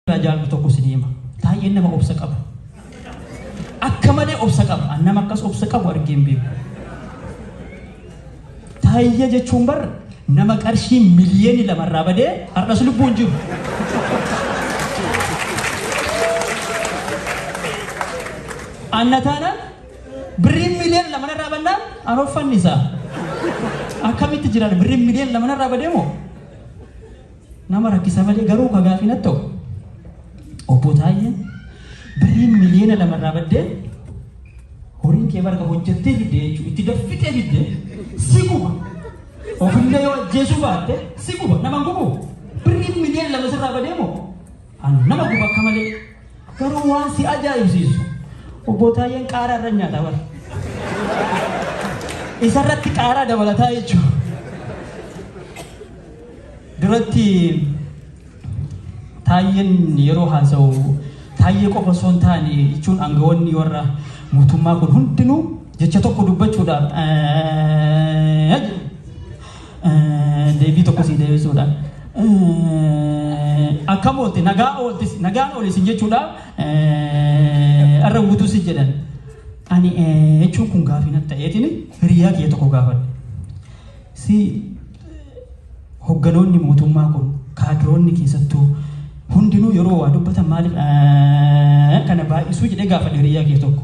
irraa jaallu tokko isinii hima. Taayyeen nama obsa qabu. Akka malee obsa qaba. An nama akkas obsa qabu argee hin beeku. Taayyee jechuun bar nama qarshii miliyoonni lama irraa badee har'as lubbuun jiru. Anna taanaan birriin miliyoona lama irraa bannaan an offannisaa. Akkamitti jiran birriin miliyoona lama irraa badee moo? Nama rakkisa malee garuu ka gaafii natti ta'u Obbo Taayyeen birriin miliyoona lama irraa baddee horiin kee barga hojjettee fidde jechuun itti daffitee fidde si guba. Ofillee yoo ajjeesuu baatte si guba. Nama hin gubu. Birriin miliyoona lama sirraa badee moo? An nama guba akka malee garuu waan si ajaa'ibsiisu obbo Taayyeen qaaraa irra nyaata bar. Isarratti qaaraa dabalataa jechuudha. Duratti Taayyeen yeroo haasa'u Taayyee qofa osoo hin taane jechuun aangawoonni warra mootummaa kun hundinuu jecha tokko dubbachuudhaaf Deebii tokko sii deebisuudha. Akkam oolte nagaa ooltis nagaan ooli sin jechuudha. Arra guutuu si jedhan. Ani jechuun kun gaafii natti ta'eetiin hiriyaa kiyya tokko gaafadhe. Si hogganoonni mootummaa kun kaadiroonni keessattuu hundinuu yeroo waa dubbatan maaliif kana baay'isuu jedhee gaafadhe hiriyaa kiyya tokko.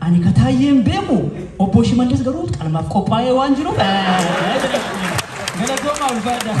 Ani ka Taayyeen beeku Obbo Shimallis garuu qalmaaf qophaa'ee waan jiruuf galatoomaa ulfaadhaa.